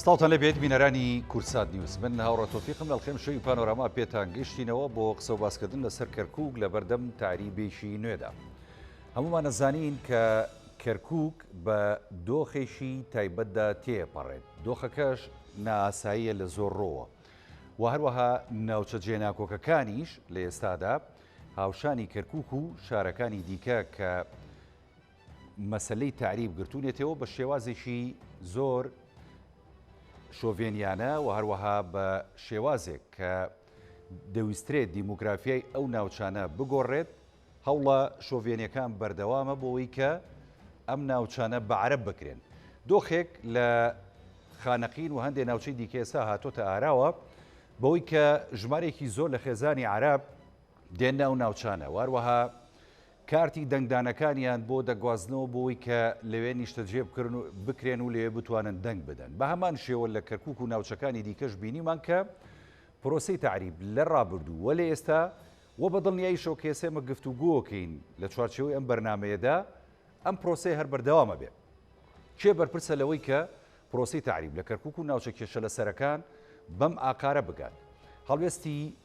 سڵاوتان لە بێت بینەرانی کورسات نیوز من هاوڕە تۆفیقم لەڵخێم شوی پانۆراما پێتان گەشتینەوە بۆ قسە و باسکردن لەسەر کەرکک لە بەردەم تاریبێکی نوێدا. هەمومان نەزانین کە کەرکک بە دۆخێکی تایبەتدا تێپەڕێت دۆخەکەش ناساییە لە زۆر ڕۆوە. و هەروەها ناوچە جێناکۆکەکانیش لە ئێستادا هاوشانی کەرکک و شارەکانی دیکە کە مەسەلەی تەعریب گرتوونەتێوە بە شێوازێکی زۆر شۆڤێنیانە و هەروەها بە شێوازێک کە دەویسترێت دیموگرافیای ئەو ناوچانە بگۆڕێت هەوڵە شۆڤێنەکان بەردەوامە بۆەوەی کە ئەم ناوچانە بە عرب بکرێن دۆخێک لە خانەقین و هەندێک ناوچەی دیکەێسا هاتۆتە ئاراوە بەوەی کە ژمارێکی زۆر لە خێزانی عرب دێنە ئەو ناوچانە واروەها کارتی دەنگدانەکانیان بۆ دەگوازنەوە بۆی کە لەوێ نیشتەجێ بکرێن و لەوێ بتوانن دەنگ بدەن. بە هەمان شێوە لە کەرکووک و ناوچەکانی دیکەش بینیمان کە پرۆسەی تەعریب لە ڕابردوو و لە ئێستا و بە دڵنیاییشەوە کە ئێسێ ئێمە گفتوگۆکەین لە چوارچێوەی ئەم بەرنامەیەدا ئەم پرۆسەیە هەر بەردەوام ئەبێ. کێ بەرپرسە لەوەی کە پرۆسەی تەعریب لە کەرکووک و ناوچە کێشەلەسەرەکان بەم ئاقارە بگات؟ هەڵوێستی.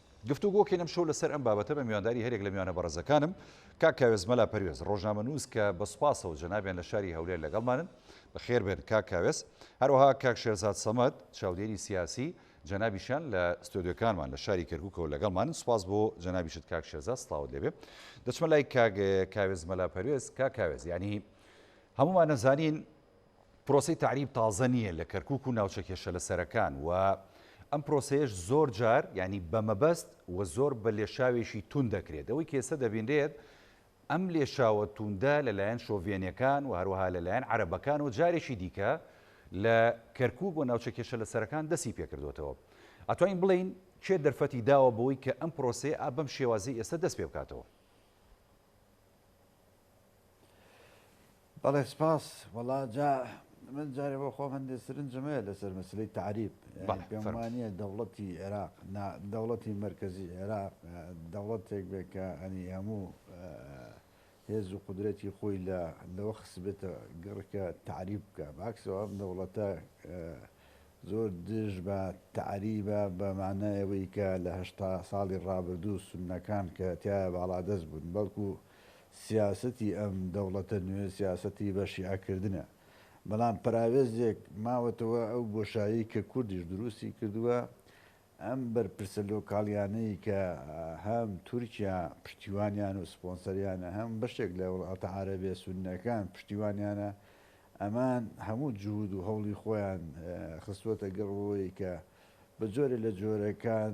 گفتوگۆکەین ئەمشەو لەسەر ئەم بابەتە بە میوانداری هەریەک لە میوانە بەڕێزەکانم، کاک کاوێس مەلا پەروێز، ڕۆژنامەنووس کە بە سوپاسەوە جەنابیان لە شاری هەولێر لەگەڵمانن، بەخێربێن کاک کاوێس، هەروەها کاک شێرزاد سەمەد، چاودێری سیاسی، جەنابیشیان لە ستۆدیۆکانمان لە شاری کەرکووکەوە لەگەڵمانن، سوپاس بۆ جەنابیشت کاک شێرزاد، سڵاوت لێبێ. دەچمە لای کاک کاوێس مەلا پەروێز، کاک کاوێس، یانی هەموومان ئەزانین پرۆسەی تەعریب تازە نییە لە کەرکووک و ناوچە کێشەلەسەرەکان و ئەم پرۆسەیەش زۆر جار یانی بە مەبەست و زۆر بە لێشاوێکی توند دەکرێت. ئەوەی کە ئێستا دەبینرێت ئەم لێشاوە توندە لە لایەن شۆڤێنەکان و هەروەها لە لایەن عەرەبەکانەوە جارێکی دیکە لە کەرکووک و ناوچە کێشەلەسەرەکان دەستی پێکردۆتەوە. ئەتوانین بڵێین کێ دەرفەتی داوە بەوەی کە ئەم پرۆسەیە بەم شێوازەی ئێستا دەست پێ بکاتەوە؟ بەڵێ سپاس وەڵا جا من جارێ بۆ خۆم هەندێک سرنجم هەیە لەسەر مەسلەی تعریب پێم وانە دەوڵەتی عێراق دەوڵەتی مرکزی عێراق دەوڵەتێک بێ کە ئەنی هەموو هێز و قدرەتی خۆی لە لەوە خسبێتە گەڕکە تعریب بکە باکسەوە ئەم دەوڵەتە زۆر دژ بە تعریبە بەمانایەوەی کە لەهشتا ساڵی ڕابردوو سونەکان کە تایە باڵادەست بوون بەڵکو و سیاسەتی ئەم دەوڵەتە نوێ سیاسەتی بە شیعە کردنە، بەڵام پەراوێزێک ماوەتەوە ئەو بۆشایەی کە کوردیش دروستی کردووە، ئەم بەرپرسە لۆکاڵیانەی کە هەم تورکیا پشتیوانیان و سپۆنسەریانە هەم بەشێک لە وڵاتە عەرەبێ سوننەکان پشتیوانیانە ئەمان هەموو جهود و هەوڵی خۆیان خستووەتە گەڕ ئەوەی کە بە جۆرێ لە جۆرەکان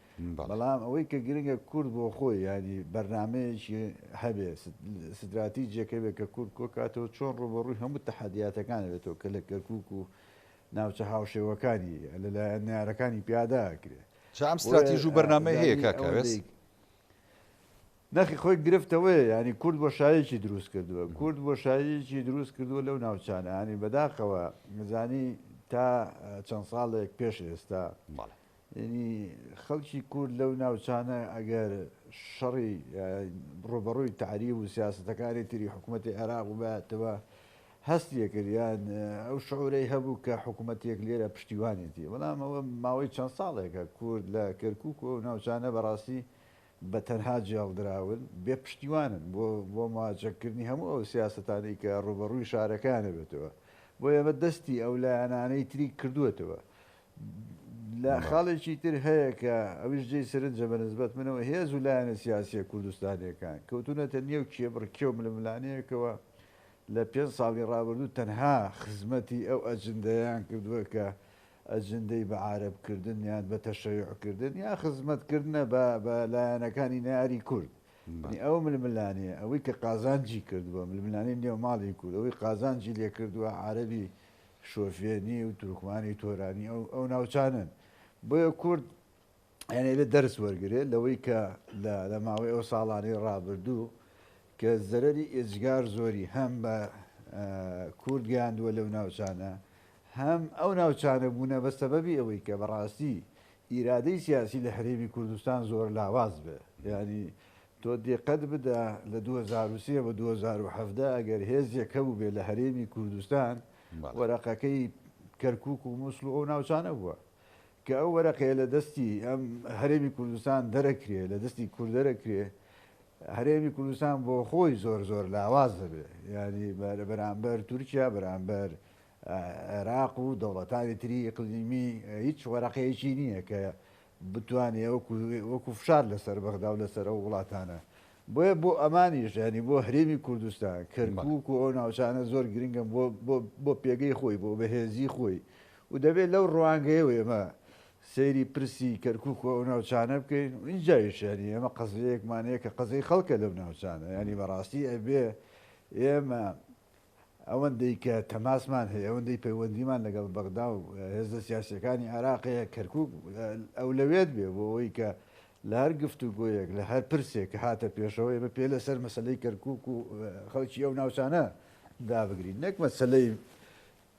بەڵام ئەوەی کە گرنگە کورد بۆ خۆی یانی بەرنامەیەکی هەبێ ستراتیجێکە بێ کە کورد کۆکاتەوە چۆن ڕووبەڕووی هەموو تەحەدیاتەکان بێتەوە کە لە کەرکوک و ناوچە هاوشێوەکانی لەلایەن نارەکانی پیادا کرێ جام ستراتیژ و بەرنامە هەیە کاکەوێست نەخی خۆی گرفتەوەی ینی کورد بۆ شایەکی دروست کردووە کورد بۆ شایەکی دروست کردووە لەو ناوچانانی بەداخەوە نزانی تا چەند ساڵێک پێش ئێستا ماڵێت یەنی خەڵکی کورد لەو ناوچانە ئەگەر شەڕی ڕوبەڕووی تاریب و سیاستەکانی تری حکوومەتی عێراق و باتەوە هەستیەکریان ئەو شعورەی هەبوو کە حکوومەتێک لێرە پشتیوانێتی بەڵام ئەوە ماوەی چەند ساڵێکە کورد لە کەرکک و ناوچانە بەڕاستی بە تەنها جێڵدراون بێ پشتیوانن بۆ بۆ ماجەکردنی هەموو ئەو سیاستانی کە ڕوبەڕووی شارەکانە بێتەوە بۆ ئێمە دەستی ئەو لایەنانەی تری کردوێتەوە لە خاڵێکی تر هەیە کە ئەویش جێی سەرنجە بە نسبەت منەوە هێز و لایەنە سیاسیە کوردستانیەکان کەوتونەتە نێو کێبڕکێ و ململانێیەکەوە لە پێنج ساڵی ڕابردوو تەنها خزمەتی ئەو ئەجندەیان کردووە کە ئەجندەی بە عارەب کردن یان بە تەشەیع کردن یا خزمەت کردنە بە بە لایەنەکانی ناری کورد ئەو ململانێ ئەوەی کە قازانجی کردووە ململانەی نێو ماڵی کورد ئەوەی قازانجی لێ کردووە عربی شۆفێنی و تورکمانی تۆرانی ئەو ئەو ناوچانەن بۆیە کورد یعنی بێ دەرس وەرگێ لەوەی کە لە ماوەی ئەو ساڵانەی ڕابردوو کە زەرری ئێجگار زۆری هەم بە کورد گەیاندووە لەو ناوچانە هەم ئەو ناوچانە بوونە بە سەبەبی ئەوەی کە بەڕاستی ئیرادەی سیاسی لە هەرێمی کوردستان زۆر لاواز بێ ینی تۆ دیقەت بدە لە دوو هەزار و سێ بۆ دوو هەزار و حەڤدە ئەگەر هێزێک هەبووبێ لە هەرێمی کوردستان وەرەقەکەی کەرکوک و موسڵ و ئەو ناوچانە بووە کە ئەو وەرەقەیە لە دەستی ئەم هەرێمی کوردستان دەرەکرێ لە دەستی کوردەرەکرێ هەرێمی کوردستان بۆ خۆی زۆر زۆر لاواز دەبێ یعنی بەرامبەر تورکیا بەرامبەر عێراق و دەوڵەتانی تری ئیقلیمی هیچ وەرەقەیەکی نییە کە بتوانێ وەکو وەکو فشار لەسەر بەغدا و لەسەر ئەو وڵاتانە بۆیە بۆ ئەمانیش یعنی بۆ هەرێمی کوردستان کەرکک و ئەو ناوچانە زۆر گرنگم بۆ پێگەی خۆی بۆ بەهێزی خۆی و دەبێت لەو ڕوانگەیە و ئێمە سەیری پرسی کەرکک و ئەو ناوچانە بکەین و ئینجایشانی ئێمە قەزەیەکمانەیە کە قەزەی خەڵکە لەو ناوچانە ینی بەڕاستی ئەبێ ئێمە ئەوەندەی کە تەماسمان هەیە، ئەوەندەی پەیوەندیمان لەگەڵ بەغدا و هێزە سیاسییەکانی عێراق هەیە، کەرکووک ئەولەوێت بێ بۆ ئەوەی کە لە هەر گفتوگۆیەک، لە هەر پرسێک کە هاتە پێشەوە، ئێمە پێ لەسەر مەسەلەی کەرکووک و خەڵکی ئەو ناوچانە دابگرین، نەک مەسەلەی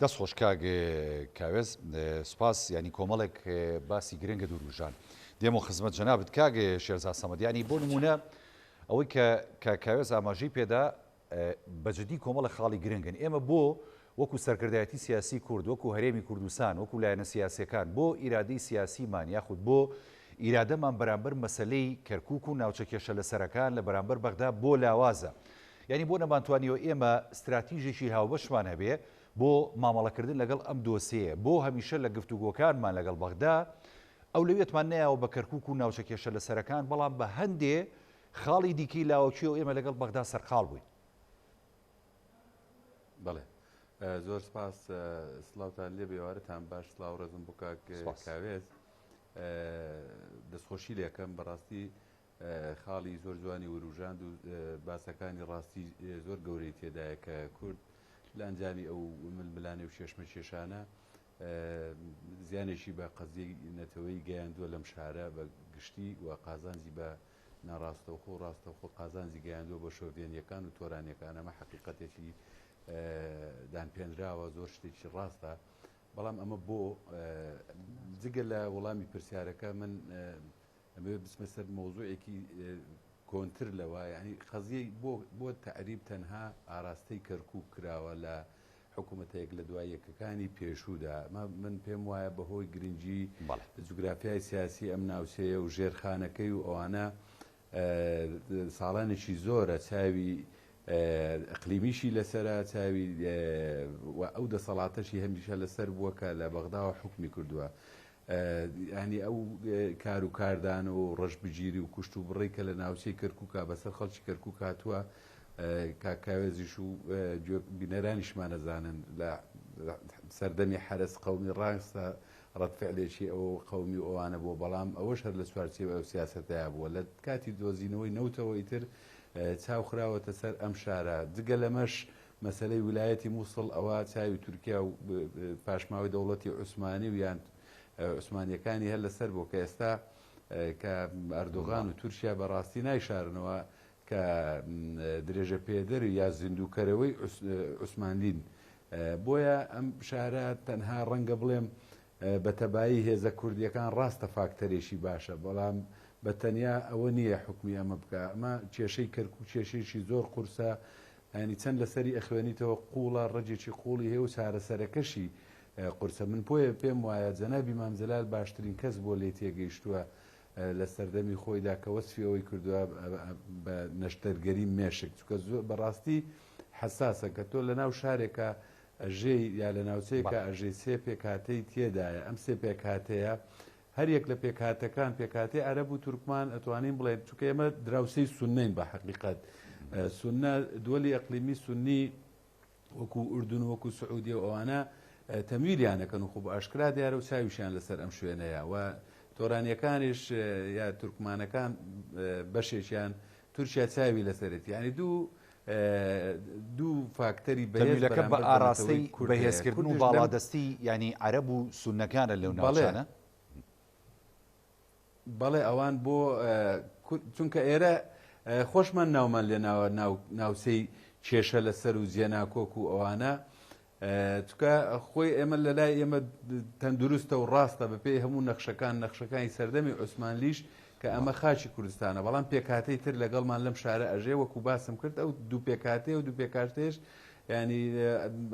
دەست خۆش کاک کاوێز سپاس یانی کۆمەڵێک باسی گرنگە دوروژان دێمە خزمەت جەنابت کاک شێرزا سەمەد ینی بۆ نمونە ئەوەی کە کە کاوێز ئاماژەی پێدا بەجددی کۆمەڵە خاڵی گرنگن ئێمە بۆ وەکو سەرکردایەتی سیاسی کورد وەکو هەرێمی کوردستان وەکو لایەنە سیاسەکان بۆ ئیرادەی سیاسیمان یاخود بۆ ئیرادەمان بەرامبەر مەسلەی کەرکک و ناوچە کێشە لە سەرەکان لە بەرامبەر بەغدا بۆ لاوازە یانی بۆ نەمانتوانیوە ئێمە ستراتیژێکی هاوبەشمان هەبێ بۆ مامەڵەکردن لەگەڵ ئەم دۆسێیە؟ بۆ هەمیشە لە گفتوگۆکانمان لەگەڵ بەغدا ئەولەویەتمان نەیاوە بە کەرکوک و ناوچە کێشەلەسەرەکان، بەڵام بە هەندێ خاڵی دیکەی لاوەکیەوە ئێمە لەگەڵ بەغدا سەرقاڵ بووین؟ بەڵێ زۆر سپاس سلااوان لێ بێوارتان باش سلااو ڕێزم بۆ کاک کاوێز دەستخۆشی لەکەم بەڕاستی خاڵی زۆر جوانی وروژاند و باسەکانی ڕاستی زۆر گەورەی تێدایە کە کورد لە ئەنجامی ئەو ململانێ و کێشمەکێشانە زیانێکی بە قەزیەی نەتەوەی گەیاندووە لەم شارە بە گشتی و قازانجی بە ناڕاستەوخۆ و ڕاستەوخۆ قازانجی گەیاندووە بۆ شۆڤێنیەکان و تۆرانیەکان ئەمە حقیقەتێکی دانپێنراوە زۆر شتێکی ڕاستە بەڵام ئەمە بۆ جگە لە وەڵامی پرسیارەکە من ئەمەوێ بچمە سەر مەوزوعێکی کۆنتر لەوە یانی قەزیەی بۆ بۆ تەعریب تەنها ئاراستەی کەرکوک کراوە لە حکومەتە یەک لە دوای یەکەکانی پێشوودا ئەمە من پێم وایە بەهۆی گرنگی بەڵێ جوگرافیای سیاسی ئەم ناوچەیە و ژێرخانەکەی و ئەوانە ساڵانێکی زۆرە چاوی ئەقلیمیشی لەسەرە چاوی و ئەو دەسەڵاتەشی هەمیشە لەسەر بووە کە لە بەغداوە حکومی کردووە یانی ئەو کار و کاردان و ڕەشبگیری و کوشت و بڕی کە لە ناوچەی کەرکووکا بەسەر خەڵکی کەرکووک هاتووە کاک کاوێزیش و گوێ بینەرانیشمان ئەزانن لە سەردەمی حەرەس قەومی ڕاستە ڕەتفعلێکی ئەو قەومی و ئەوانە بووە بەڵام ئەوەش هەر لە چوارچێوە ئەو سیاسەتەیە بووە لە کاتی دۆزینەوەی نەوتەوەی تر چاوخراوەتە سەر ئەم شارە جگە لەمەش مەسەلەی ولایەتی موسڵ ئەوە چاوی تورکیا و پاشماوەی دەوڵەتی عوسمانی و یان عوسمانیەکانی هەر لەسەر بووە کە ئێستا کە ئەردۆغان و تورکیا بە ڕاستی نایشارنەوە کە درێژە پێدەر و یا زیندووکەرەوەی عوسمانلین بۆیە ئەم شارە تەنها ڕەنگە بڵێم بە تەبایی هێزە کوردیەکان ڕاستە فاکتەرێکی باشە بەڵام بە تەنیا ئەوە نییە حکومی ئەمە بکە ئەمە کێشەی کەرکک کێشێکی زۆر قورسە یانی چەند لەسەری ئەخوێنیتەوە قوڵە ڕەگێکی قوڵی هەیە و چارەسەرەکەشی قورسە من پۆیە پێم وایە جەنابی مام جەلال باشترین کەس بووە لێ تێگەیشتووە لە سەردەمی خۆیدا کە وەسفی ئەوەی کردووە بە نەشتەرگەری مێشک چونکە زۆر بەڕاستی حەساسە کە تۆ لەناو شارێکە ئەژێی یا لە ناوچەیەکە ئەژێی سێ پێکهاتەی تێدایە ئەم سێ پێکهاتەیە هەر یەک لە پێکهاتەکان، پێکهاتەی عەرەب و تورکمان ئەتوانین بڵێین، چونکە ئێمە دراوسێی سوننەین بە حەقیقەت، سوننە، دوەلی ئەقلیمی سوننی وەکوو ئوردن و وەکوو سعودیە و ئەوانە تەمویلیان ئەکەن و خۆ بە ئاشکرا دیارە و چاویشیان لە سەر ئەم شوێنەیە و تۆرانیەکانیش یا تورکمانەکان بەشێکیان تورکیا چاوی لەسەرێتی یانی دوو دوو فاکتەری بەهێز بەرامبەر بە نەتەوەی کورددا هەیە. تەویلەکە بە ئاراستەی بەهێزکردن و باڵادەستی یانی عەرەب و سوننەکانە لەو ناوچانە؟ بەڵێ ئەوان بۆ چونکە ئێرە خۆشمان ناومان لێناوە ناوچەی کێشە لەسەر و جێناکۆک و ئەوانە، چونکە خۆی ئێمە لە لای ئێمە تەندروستە و ڕاستە بەپێی هەموو نەخشەکان نەخشەکانی سەردەمی عوسمانلیش کە ئەمە خاچی کوردستانە بەڵام پێکاتەی تر لەگەڵمان لەم شارە ئەژێ وەکو باسم کرد ئەو دوو پێکاتێ و دوو پێکارتێش ینی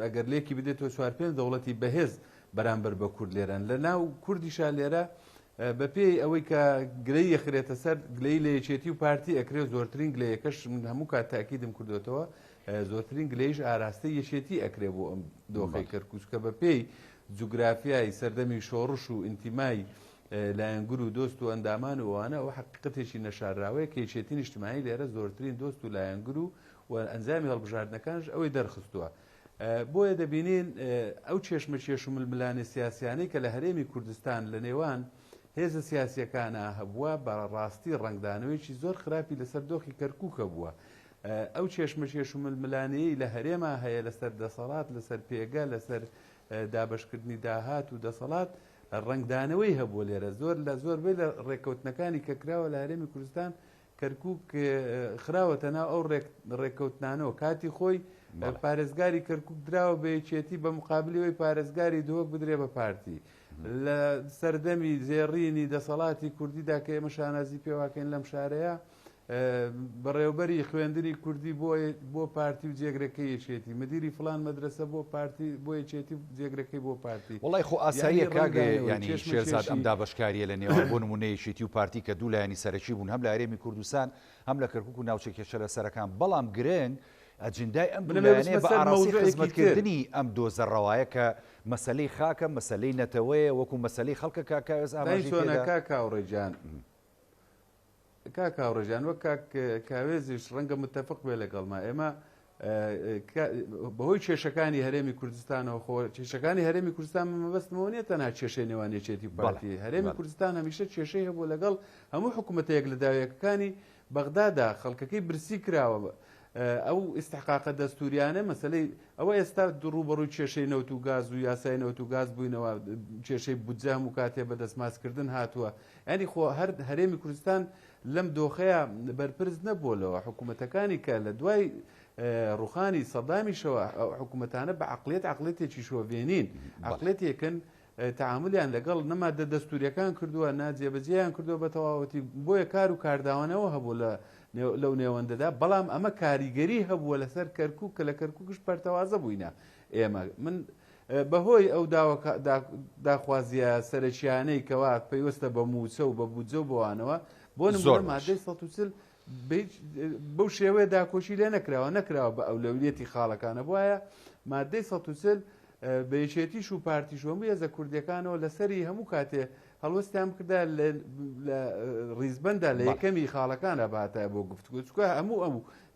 ئەگەر لێکی بدێتەوە چوار پێنج دەوڵەتی بەهێز بەرامبەر بە کورد لێرەن لە ناو کوردیشا لێرە بە پێی ئەوەی کە گلەی یەخرێتە سەر گلەی لە یەکێتی و پارتی ئەکرێ زۆرترین گلەیەکەش من هەموو کات تاکیدم کردوێتەوە زۆرترین گلەییش ئاراستەی یەکێتی ئەکرێ بۆ ئەم دۆخەی کەرکووک کە بە پێی جوگرافیای سەردەمی شۆڕش و ئینتیمای لایەنگر و دۆست و ئەندامان و ئەوانە ئەوە حەقیقەتێکی نەشارراوەیە کە یەکێتی نیشتمانی لێرە زۆرترین دۆست و لایەنگر و و ئەنجامی هەڵبژاردنەکانش ئەوەی دەرخستووە. بۆیە دەبینین ئەو چێشمەکێش و ململانێ سیاسیانەی کە لە هەرێمی کوردستان لە نێوان هێزە سیاسیەکانە هەبووە بە ڕاستی ڕەنگدانەوەیەکی زۆر خراپی لەسەر دۆخی کەرکووک هەبووە ئەو کێشمەکێش و ململانێیەی لە هەرێما هەیە لەسەر دەسەڵات، لەسەر پێگە، لەسەر دابەشکردنی داهات و دەسەڵات ڕەنگدانەوەی هەبووە لێرە. زۆر لە زۆربەی لە ڕێککەوتنەکانی کە کراوە لە هەرێمی کوردستان، کەرکووک خراوەتە ناو ئەو ڕێککەوتنانەوە. کاتی خۆی پارێزگاری کەرکووک دراوە بە یەکێتی بە مقابلی ئەوی پارێزگاری دهۆک بدرێ بە پارتی. لە سەردەمی زێڕینی دەسەڵاتی کوردیدا کە ئێمە شانازی پێواکەین لەم شارەیە، بەڕێوبەری خوێندنی کوردی بۆ بۆ پارتی و جێگرەکەی یەکێتی مدیری فلان مەدرسە بۆ پارتی بۆ یەکێتی و جێگرەکەی بۆ پارتی وەڵای خۆ ئاساییە کاک یانی شێرزاد ئەم دابەشکاریە لە نێوان بۆ نمونە یەکێتی و پارتی کە دوو لایەنی سەرەکی بوون هەم لە هەرێمی کوردستان هەم لە کەرکوک و ناوچە کێشە لە سەرەکان بەڵام گرنگ ئەجندای ئەم بلێنێ بە ئاراسی خزمەتکردنی ئەم دۆزە ڕەوایە کە مەسلەی خاکە مەسلەی نەتەوەیە وەکو مەسلەی خەڵکە کاکاوێز ئاماژی کاکاوڕێجان کاک هاوڕێ جان وەک کاک کاوێزیش ڕەنگە متتەفق بێ لەگەڵما ئێمە بەهۆی کێشەکانی هەرێمی کوردستانەوە خۆ کێشەکانی هەرێمی کوردستان مەبەستمەوە نیە تەنها کێشەی نێوانێچێتی پارتی هەرێمی کوردستان هەمیشە کێشەی هەبوو لەگەڵ هەموو حکوومەتەیەک لە داویەکەکانی بەغدادا خەڵکەکەی برسی کراوە ئەو ئیسحقاقە دەستوریانە مەسلەی ئەوە ئێستا دوڕوبەڕووی کێشەی نەوت و گاز و یاسای نەوت و گاز بووینەوە کێشەی بودجام و کاتێ بە دەستماسکردن هاتووە یانی خۆ هەر هەرێمی کوردستان لەم دۆخەیا بەرپرس نەبووە لەوە حکوومەتەکانی کە لە دوای ڕوخانی سەدامیشەوە حکوومەتانە بە عقلێت عقلێتێکی شۆڤێنین عقلێتێکن تعاملیان لەگەڵ نەمادە دەستوریەکان کردووە ناجێبەجێیان کردووە بە تەواوەتی بۆیە کار و کارداوانەوە هەبوو لە لەو نێوەندەدا بەڵام ئەمە کاریگەری هەبووە لەسەر کەرکک کە لە کەرککش پەرتەوازە بووینە ئێمە من بەهۆی ئەو داخوازییە سەرەکییانەی کەوا پەیوەستە بە مووچە و بە بودجە و بەوانەوە بۆ نمونە مادەی 140 بەو شێوەیە داکۆکی لێ نەکراوە نەکراوە بە ئەولەویەتی خاڵەکانە بواە مادەی 140 بە یەکێتیش و پارتیش هەموو هێزە کوردیەکانەوە لەسەری هەموو کاتێ هەڵوەستیان بکردا لە ڕیزبەندا لە یەکەمی خاڵەکانە باتە بۆ گفتگوچکە هەموو ئەموو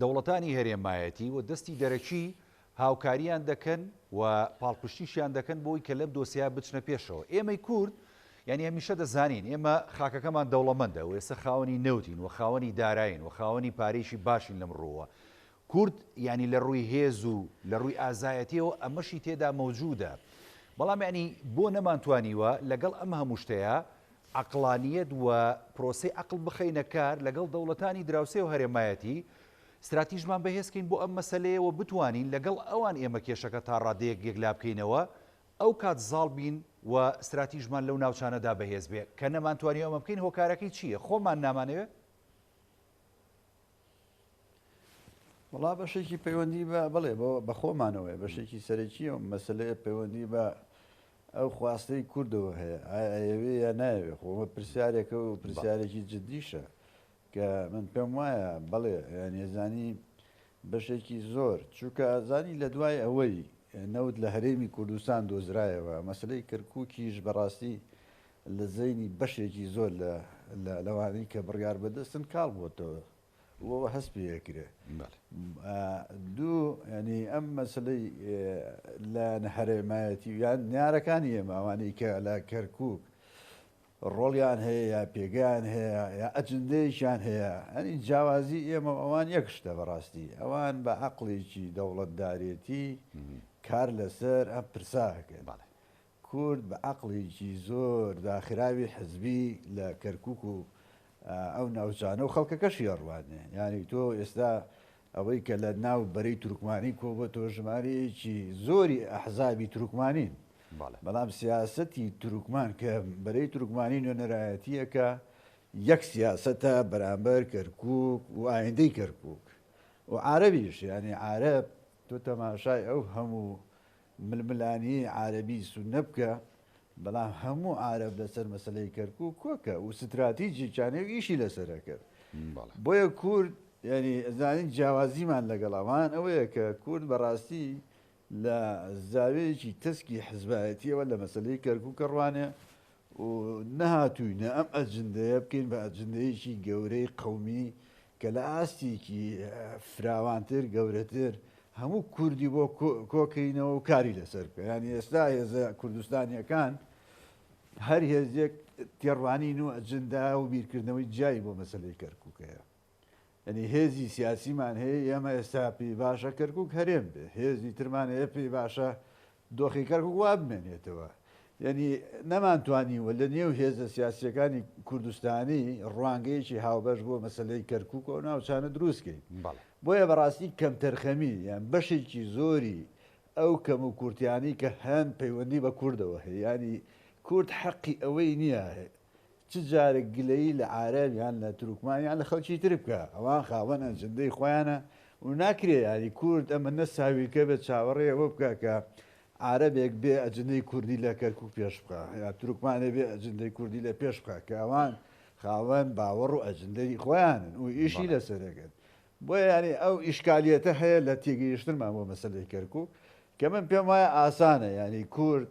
دەوڵەتانی هەرێمایەتی و دەستی دەرەکی هاوکارییان دەکەن و پاڵپشتیشیان دەکەن بۆی کە لەم دۆسیە بچنە پێشەوە. ئێمەی کورد یانی هەمیشە دەزانین ئێمە خاکەکەمان دەوڵەمەندە و ئێستا خاوەنی نەوتین و خاوەنی داراین و خاوەنی پارەیەکی باشین لەم ڕووەوە. کورد یانی لە ڕووی هێز و لە ڕووی ئازایەتییەوە ئەمەشی تێدا مەوجوودە. بەڵام یانی بۆ نەمانتوانیوە لەگەڵ ئەم هەموو شتەیا عەقڵانییەت و پرۆسەی عەقڵ بخەینە کار لەگەڵ دەوڵەتانی دراوسێ و هەرێمایەتی، ستراتیژمان بەهێز کەین بۆ ئەم مەسەلەیە و بتوانین لەگەڵ ئەوان ئێمە کێشەکە تا ڕادەیەک یەکلا بکەینەوە، ئەوکات زاڵ بین و ستراتیژمان لەو ناوچانەدا بەهێز بێ، کە نەمانتوانیوە ئەمە بکەین هۆکارەکەی چییە؟ خۆمان نامانەوێ؟ وڵا بەشێکی پەیوەندی بە بڵێ بۆ بەخۆمانەوەی بەشێکی سەرەکی و مەسلەیە پەیوەندی بە ئەو خواستەی کوردەوە هەیە ئاەوێ یا ناوێ خۆمە پرسیارێکە و پرسیارێکی جددیشە کە من پێم وایە بەڵێ نێزانی بەشێکی زۆر چووکە ئازانی لە دوای ئەوەی نەوت لە هەرێمی کوردستان دۆزرایەوە مەسلەی کەرکووکیش بەڕاستی لە زەینی بەشێکی زۆر لە لەوانەی کە بڕیار بەدەستن کاڵ بۆتەوە و هەست پێ ئەکرێ دوو ینی ئەم مەسلەی لە نەهرێمایەتی یان نیارەکانی ئێماوانی کە لە کەرکک ڕۆڵیان هەیە یا پێگەیان هەیە یا ئەجندەیەکیان هەیە ئەنی جیاوازی ئێمە ئەوان یەک شتە بەڕاستی ئەوان بە عقلێکی دەوڵەتدارێتی کار لەسەر ئەم پرساکەن کورد بە عەقڵێکی زۆر داخراوی حزبی لە کەرکوک و ئەو ناوچانە و خەڵکەکەشی ئەڕوانێ. یانی تۆ ئێستا ئەوەی کە لە ناو بەرەی تورکمانی کۆبۆتەوە ژمارەیەکی زۆری ئەحزابی تورکمانین. بەڵام سیاسەتی تورکمان کە بەرەی تورکمانی نوێنەرایەتیەکە یەک سیاسەتە بەرامبەر کەرکوک و ئایندەی کەرکوک و عارەبیش یانی عارەب تۆ تەماشای ئەو هەموو ململانێی عارەبی سوننە بکە، بەڵام هەموو عارەب لەسەر مەسەلەی کەرکوک کۆکە و ستراتیجی چانێ و ئیشی لەسەرە کرد. بۆیە کورد یانی ئەزانین جیاوازیمان لەگەڵ ئەوان ئەوەیە کە کورد بەڕاستی لە زاوێیەکی تەسکی حزبایەتیەوە لە مەسەلەی کەرکوک ئەڕوانێ و نەهاتووینە ئەم ئەجندەیە بکەین بە ئەجندەیەکی گەورەی قەومی کە لە ئاستێکی فراوانتر گەورەتر هەموو کوردی بۆ کۆکەینەوە و کاری لەسەر بکە ینی ئێستا هێزە کوردستانیەکان هەر هێزێک تێڕوانین و ئەجندا و بیرکردنەوەی جیای بۆ مەسلەی کەرکووکەیە یەنی هێزی سیاسیمان هەیە ئێمە ئێستا پێی باشە کەرکک هەرێم بێ هێزی ترمان هەیە پێی باشە دۆخی کەرکک وا بمێنێتەوە یعنی نەمانتوانیوە لە نێو هێزە سیاسیەکانی کوردستانی ڕوانگەیەکی هاوبەش بۆ مەسلەی کەرکک و ناوچانە دروستکەین بۆیە بەڕاستی کەم تەرخەمی یان بەشێکی زۆری ئەو کەم و کورتیانی کە هەن پەیوەندی بە کوردەوە هەیە ینی کورد حەقی ئەوەی نییە چ جارێک گلەیی لە عارەب یان لە تورکمان یان لە خەڵکی تر بکە ئەوان خاوەن ئەجندەی خۆیانە و ناکرێ یاری کورد ئەمە نەساویلکە بێت چاوەڕێ ئەوە بکە کە عارەبێک بێ ئەجندەی کوردی لە کەرکوک پێش بخا یا تورکمانێ بێ ئەجندەی کوردی لە پێش بخا کە ئەوان خاوەن باوەڕ و ئەجندەی خۆیانن و ئیشی لەسەرەکەن بۆ یاری ئەو ئیشکالیەتە هەیە لە تێگەیشتنمان بۆ مەسلەی کەرکوک کە من پێم وایە ئاسانە یاری کورد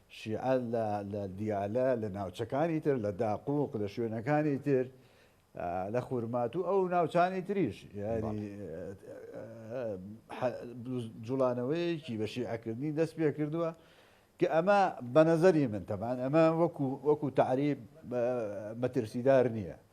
شیعە لە لە دیالە، لە ناوچەکانی تر، لە داقووق، لە شوێنەکانی تر، لە خورماتوو ئەو ناوچانی تریش یانی جوڵانەوەیەکی بە شیعەکردنی دەست پێ کردووە کە ئەمە بە نەزەری من تەبان ئەمە وەکو وەکو تعریب مەترسیدار نییە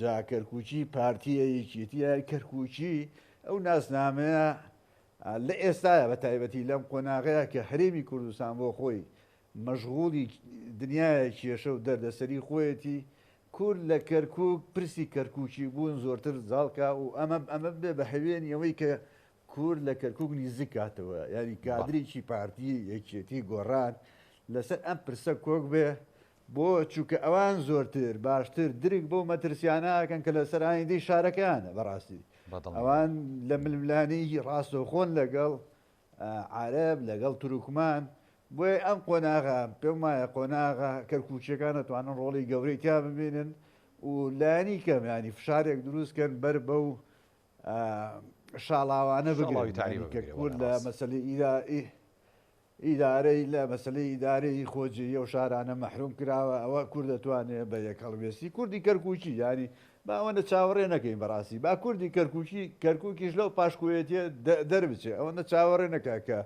جا کەرکوکی پارتیە یەکێتیە کەرکوکی ئەو ناسنامەیە لە ئێستاە بە تایبەتی لەم قۆناغەیە کە هەرێمی کوردستان بۆ خۆی مەژغوڵی دنیاە کێشە و دەردەسەری خۆیەتی کورد لە کەرکک پرسی کەرکوکی بوون زۆرتر زاڵکە و ئەمە ئەمە بێ بە هەوێنی ئەوەی کە کورد لە کەرکک نزیک کاتەوە یاری کادرێکی پارتی یەکێتی گۆڕان لەسەر ئەم پرسە کۆک بێ بۆ؟ چونکە ئەوان زۆرتر باشتر درک بەو مەترسیانە ئەکەن کە لەسەر ئایندەی شارەکەیانە بەڕاستی ئەوان لە ململانێی ڕاستەوخۆن لەگەڵ عارەب لەگەڵ تروکمان بۆیە ئەم قۆناغە پێم وایە قۆناغە کەرکوچیەکان دەتوانن ڕۆڵی گەورەی تیا ببینن و لانی کەم ینی فشارێک دروستکەن بەر بە و شاڵاوانە بگەڵی تاری کە کورد لە مەسلی ئیرائیه ئیدارەی لە مەسەلەی ئیدارەی خۆجێی ئەو شارانە مەحروم کراوە ئەوە کورد دەتوانێ بە یەک هەڵوێستی کوردی کەرکوکی یانی با ئەوەندە چاوەڕێ نەکەین بەڕاستی با کوردی کەرکوکی کەرکوکیش لەو پاشکۆیەتیە دەربچێ ئەوەندە چاوەڕێ نەکە کە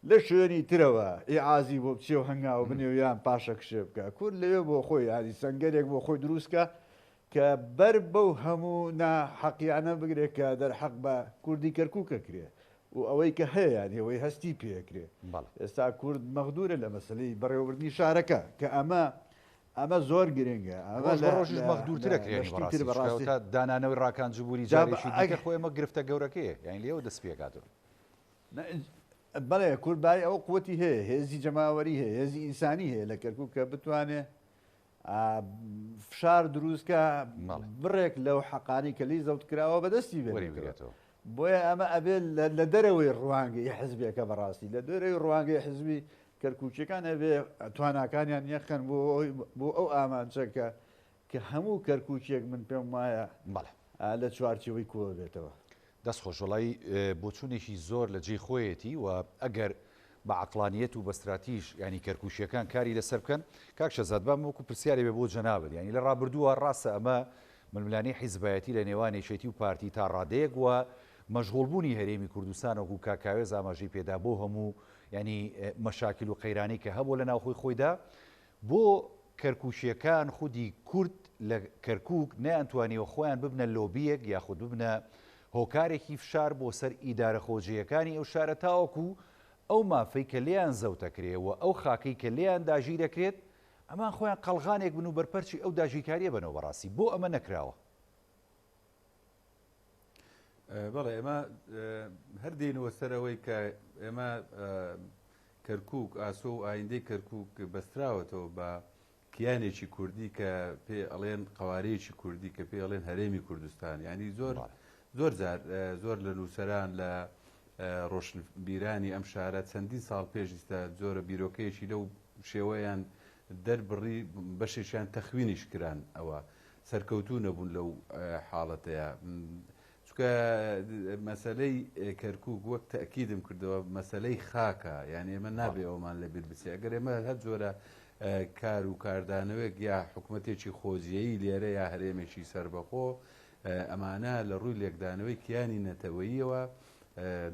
لە شوێنی ترەوە ئیعازی بۆ بچێ و هەنگاو بنێ و یان پاشە کشێ بکە کورد لەوێ بۆ خۆی یاری سنگەرێک بۆ خۆی دروستکە کە بەر بەو هەموو ناحەقیانە بگرێت کە دەرحەق بە کوردی کەرکوکە کرێ و ئەوەی کە هەیە یان ئێوەی هەستی پێکرێ بەڵێ. ئێستا کورد مەغدورە لە مەسەلەی بەڕێوەبردنی شارەکە کە ئەمە ئەمە زۆر گرنگە ئەمە ڕۆژ بە لە ڕۆژیش لە مەغدورتر لە ئەکرێن لە شتی تر بەڕاستی چکە بەڕاستی ئەوتا دانانەوەی ڕاکان جبوری جا بە جارێکی ئەگ دیکە خۆی ئەمە گرفتە گەورەکەیە یانی لێیەوە دەست پێکاتەوە. نە ئج بەڵێ کورد بای ئەوە قوتی هەیە هێزی جەماوەری هەیە هێزی ئینسانی هەیە لە کەرکوک کە بتوانێ فشار دروست کە بڕێک لەو حەقانی کە لی زەوت کراوە بەدەستی بێتەوە بۆیە ئەمە ئەبێ لە دەرەوەی ڕوانگەی حزبێکە بەڕاستی لە دەرەوەی ڕوانگەی حزبی کەرکوچەکان ئەبێ تواناکانیان یەخەن بۆ بۆ ئەو ئامانچەکە کە هەموو کەرکوچێک من پێم وایە لە چوارچەوەی کۆ بێتەوە دەست خۆش وەڵایی بۆچونێکی زۆر لە جێی خۆیەتی و ئەگەر بە عەقڵانیەت و بە ستراتیژ یانی کەرکوکیەکان کاری لەسەر بکەن کاک شەزاد بام وەکو پرسیارێ بێ بۆ جەنابت یانی لە ڕابردووە ڕاستە ئەمە ململانی حیزبایەتی لە نێوان یەکێتی و پارتی تا ڕادەیەک و مەشغوڵ بوونی هەرێمی کوردستان وەکو کاک کاوێز ئاماژەی پێدا بۆ هەموو یانی مەشاکل و قەیرانی کە هەبوو لە ناوخۆی خۆیدا بۆ کەرکوکیەکان خودی کورد لە کەرکوک نەیانتوانیوە خۆیان ببنە لۆبیەک یاخود ببنە هۆکارێکی فشار بۆ سەر ئیدارە خۆجێیەکانی ئەو شارە تاوەکو ئەو مافەی کە لێیان زەوتەکرێ و ئەو خاکەی کە لێیان داگیرەکرێت ئەمان خۆیان قەڵغانێک بن و بەرپەرچی ئەو داگیرکاریە بەنەوە بەڕاستی بۆ ئەمە نەکراوە بەڵێ ئێمە هەر دێنەوە سەر ئەوەی کە ئێمە کەرکک ئاسۆ و ئایندەی کەرکک بەستراوەتەوە بە کیانێکی کوردی کە پێ ئەڵێن قوارەیەکی کوردی کە پێ ئەڵێن هەرێمی کوردستان ینی زۆر زۆر زۆر لە نووسەران لە ڕۆشنبیرانی ئەم شارە چەندین ساڵ پێشیستا زۆرە بیرۆکەیەکی لەو شێوەیان دەربڕی بەشێکیان تەخوینیش کران ئەوە سەرکەوتوو نەبوون لەو حاڵەتەیا چونکە مەسەلەی کەرکوک وەک تەکیدم کردەوە مەسەلەی خاکە یعنی ئێمە نابێ ئەومان لە بیربچێ ئەگەر ئێمە هەر جۆرە کار و کاردانەوەێک یا حکوومەتێکی خۆجیایی لێرە یا هەرێمێکی سربەخۆ ئەمانە لە ڕووی لێکدانەوەی کیانی نەتەوەیەوە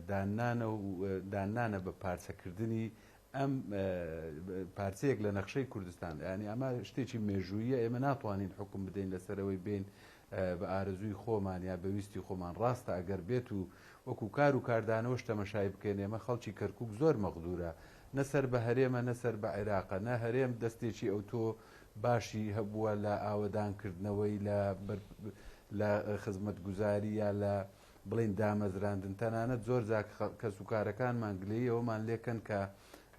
دانانە دانانە بە پارچەکردنی ئەم پارچەیەک لە نەخشەی کوردستان ینی ئەمە شتێکی مێژوویە ئێمە ناتوانین حکم بدەین لەسەرەوەی بین بە ئارزووی خۆمان یا بەویستی خۆمان ڕاستە ئەگەر بێت و وەکو کار و کاردانەوەش تەمەشای بکەین ئێمە خەڵکی کەرکک زۆر مەغدورە نەسەر بە هەرێمە نەسەر بە عێراقە نە هەرێم دەستێکی ئەو تۆ باشی هەبووە لە ئاوەدانکردنەوەی لە لە خزمەتگوزاری یا لە بڵێین دامەزراندن، تەنانەت زۆر جار کەسوکارەکانمان گلەیی ئەوەمان لێکەن کە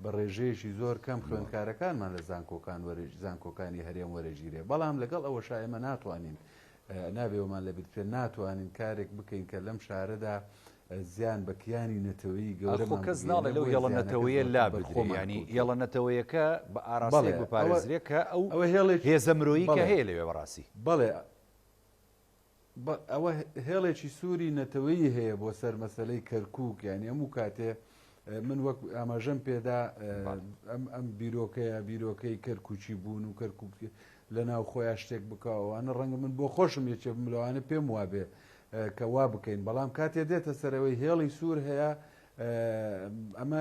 بە ڕێژەیەکی زۆر کەم خوێندکارەکانمان لە زانکۆکان وەرەی زانکۆکانی هەرێم وەرەگیرێ بەڵام لەگەڵ ئەوەشا ئێمە ناتوانین نابێ ئەومان لەبیر بچێت ناتوانین کارێک بکەین کە لەم شارەدا زیان بە کیانی نەتەوەی ئەخۆ گەورەمان کەس بگەینە ناڵێ لەو بۆیە یەڵە زیانەکە نەتەوەیە زۆرتر لا بەر بدرێ خۆمان یانی کەوتووە یەڵە نەتەوەیەکە بە ئاراستەیەک بەڵێ ئەوە بپارێزرێ کە ئەو ئەوە هێڵێکی هێزە مرۆیی کە بەڵێ هەیە لەوێ بەڕاستی بەڵێ بە ئەوە هێڵێکی سووری نەتەوەیی هەیە بۆ سەر مەسەلەی کەرکک یانی هەموو کاتێ من وەک ئاماژەم پێدا ئەم ئەم بیرۆکەیە بیرۆکەی کەرکوچی بوون و کەرکک لە ناو خۆیان شتێک بکەوانە ڕەنگە من بۆ خۆشم یەکێ بملوانە پێم وابێ کە وا بکەین بەڵام کاتێ دێتە سەرەوەی هێڵی سوور هەیە ئەمە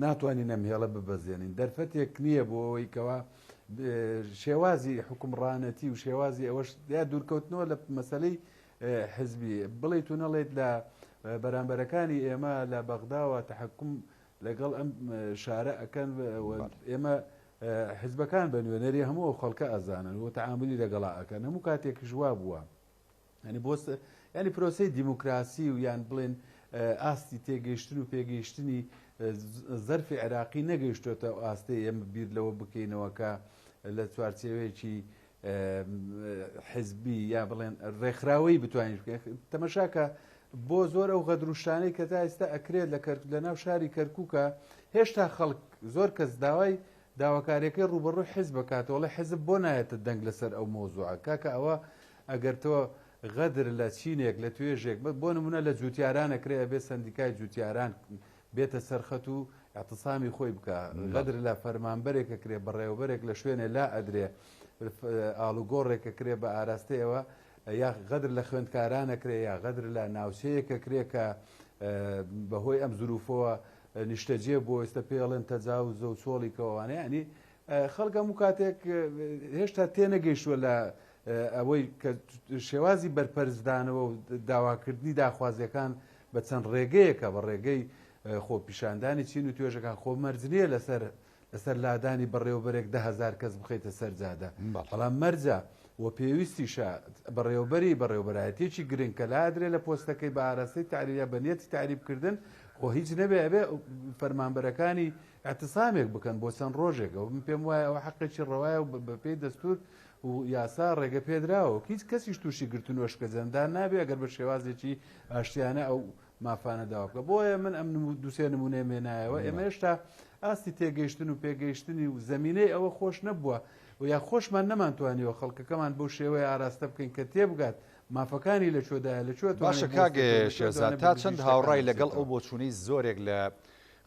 ناتوانین ئەم هێڵە ببەزێنین دەرفەتێک نییە بۆ ئەوەی کەەوە شێوازی حکومڕانەتی و شێوازی ئەوەش یا دوورکەوتنەوە لە مەسلەی حزبی بڵیت و نەڵێت لە بەرامبەرەکانی ئێمە لە بەغداوە تحکم لەگەڵ ئەم شارە ئەەکەن ئێمە حزبەکان بە نوێنەری هەموو خەڵکە ئەزانن و تعاملی لەگەڵا ئەەکەن هەموو کاتێک ژوا بووە. یانی بۆ یانی پرۆسەی دیموکراسی و یان بڵێن ئاستی تێگەیشتن و پێگەیشتنی زەرفی عێراقی نەگەیشتوێتە ئەو ئاستەی ئێمە بیر لەوە بکەینەوە کە لە چوارچێوەیەکی حزبی یا بڵێن ڕێکخراوەی بتوانین تەمەشاکە بۆ زۆر ئەو غەدروشانەی کە تا ئێستا ئەکرێت لە کەرک لە ناو شاری کەرکووکە هێشتا خەڵک زۆر کەس داوای داواکاریەکەی ڕوبەڕوی حیزبە کاتەوە ڵێ حیزب بۆ نایەتە دەنگ لەسەر ئەو مەوزوعە کاکە ئەوە ئەگەر تۆ غەدر لە چینێک لە توێژێک بە بۆ نمونە لە جوتیاران ئەکرێ ئەبێ سەندیکای جوتیاران بێتە سەرخەت و اعتصامی خۆی بکە غەدر لە فەرمانبەرێک ئەکرێ بەڕێوەبەرێک لە شوێنێ لا ئەدرێ ئالوگۆڕێک ئەکرێ بە ئاراستەی ئەوە یا غەدر لە خوێندکاران ئەکرێ یا غەدر لە ناوچەیەکە کرێ کە بەهۆی ئەم زروفەوە نیشتەجێ بۆ ئێستا پێی ئەڵێن تەجاوزە و چۆڵی کەوانە یعنی خەڵک هەموو کاتێک هێشتا تێنەگەیشتووە لە ئەوەی کە شێوازی بەرپەرزدانەوە و داواکردنی داخوازیەکان بە چەند ڕێگەیەکە بە ڕێگەی خۆپیشاندانی چین و توێژەکان خۆ مەرجنیە لەسەر لەسەر لادانی بەڕێوەبەرێک دە هەزار کەس بخەیتە سەر جادە بەڵام مەرجە و پێویستیشە بەڕێوەبەری بەڕێوەبەرایەتێکی گرنگ کە لادرێ لە پۆستەکەی بە ئاراستەی تعریە بە نیەتی تعریبکردن خۆ هیچ نەبێ ئەبێ فەرمانبەرەکانی اعتصامێک بکەن بۆ چەند ڕۆژێکە و من پێم وایە ئەوە حەقێکی ڕەوایە و بەپێی دەستور و یاسا ڕێگە پێدراوە هیچ کەسیش تووشی گرتن و شکەجەندان نابێ ئەگەر بە شێوازێکی ئاشتیانە ئەو مافانە داوا بکە بۆیە من ئەم دوسێ نمونێ مێنایەوە ئێمە هێشتا ئاستی تێگەیشتن و پێگەیشتنی و زمینەی ئەوە خۆش نەبووە و یا خۆشمان نەمانتوانیەوە خەڵکەکەمان بۆ شێوەیە ئاراستە بکەین کە تێبگات مافەکانی لە چۆدایە لە چۆ باشە کاگە شێزان تا چەند هاوڕای لەگەڵ ئەو بۆچوونەی زۆرێک لە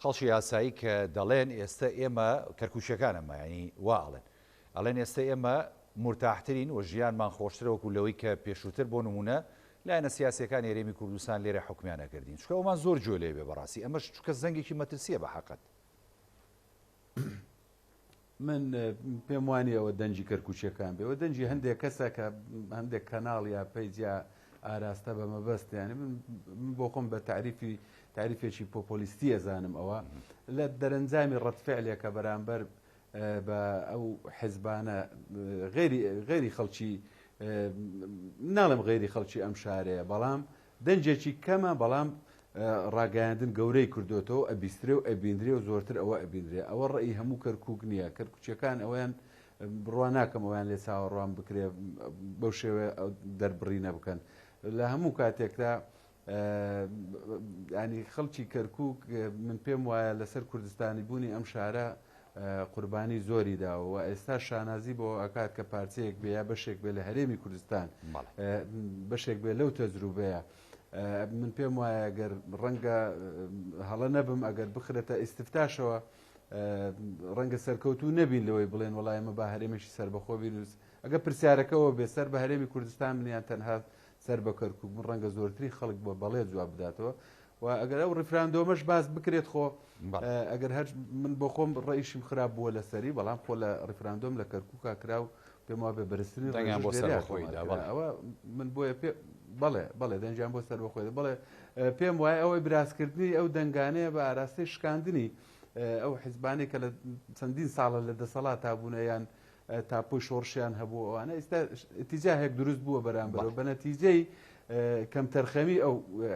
خەڵکی یاسایی کە دەڵێن ئێستا ئێمە کەرکوچەکانە مایانی واڵێن ئەڵێن ئێستە ئێمە مورتاحترین و ژیانمان خۆشترە وەکو لەوەی کە پێشووتر بۆ نموونە لایەنە سیاسیەکانی هەرێمی کوردستان لێرە حوکمیان ئەکردین چونکە ئەومان زۆر گوێ لێ بێ بەڕاستی ئەمەش چونکە زەنگێکی مەترسیە بە حەقت. من پێم وانیە ئەوە دەنجی کەرکوچیەکان بێ ئەوە دەنجی هەندێک کەسە کە هەندێک کەناڵ یا پەیجیا ئاراستە بە مەبەستیانی من بۆ خۆم بە تعریفی تعریفێکی پۆپۆلیستی ئەزانم ئەوە لە دەرەنجامی ڕەتفعلێکە بەرامبەر بە ئەو حزبانە غەیری غەیری خەڵکی ناڵێم غەیری خەڵکی ئەم شارەیە بەڵام دەنجێکی کەمە بەڵام ڕاگەیاندن گەورەی کردوێتەوە ئەبیسترێ و ئەبیندرێ و زۆرتر ئەوە ئەبیندرێ ئەوە ڕێی هەموو کەرکک نییە کەرکچەکان ئەویان بڕوا ناکەم ئەویان لێ چاوەڕوان بکرێ بەو شێوێ دەربڕینە بکەن لە هەموو کاتێکدا یانی خەڵکی کەرکوک من پێم وایە لەسەر کوردستانی بوونی ئەم شارە قوربانی زۆری داوە و ئێستا شانازی بۆ ئەکات کە پارچەیەک بێ یا بەشێک بێ لە هەرێمی کوردستان بەشێک بێ لەو تەجروبەیە من پێم وایە گەر ڕەنگە هەڵە نەبم ئەگەر بخرێتە ئیسفتاشەوە ڕەنگە سەرکەوتو نەبین لەوەی بڵێن وڵایمە با هەرێمێکی سربەخۆ بینوس ئەگە پرسیارەکەەوە بێ سەر بە هەرێمی کوردستان منیان تەنها سەر بە کەرکوک بوون ڕەنگە زۆرترین خەڵک بە بەڵێ جواب بداتەوە و ئەگەر ئەو ڕیفراندۆمەش باس بکرێت خۆ ئەگەر هەر من بۆ خۆم ڕئیشیم خراپ بووە لە سەری بەڵام خۆ لە ڕیفراندۆم لە کەرکوکا کرا و پێم وا بێ بەرزترین ڕەنگیان بۆ سەر خۆیدا ئەوە من بۆیە پێ بەڵێ بەڵێ دەنجیان بۆ سەر بەخۆێ بڵێ پێم وایە ئەوەی برازکردنی ئەو دەنگانەیە بە ئاراستەی شکاندنی ئەو حیزبانی کە لە چەندین ساڵە لە دەسەڵات تا بوونە یان تاپۆی شۆڕشیان هەبوو ئەوانە ئێستا ئتیجاهێک دروست بووە بەرامبەرەوە بە نەتیجەی کەمتەرخەمی ئەو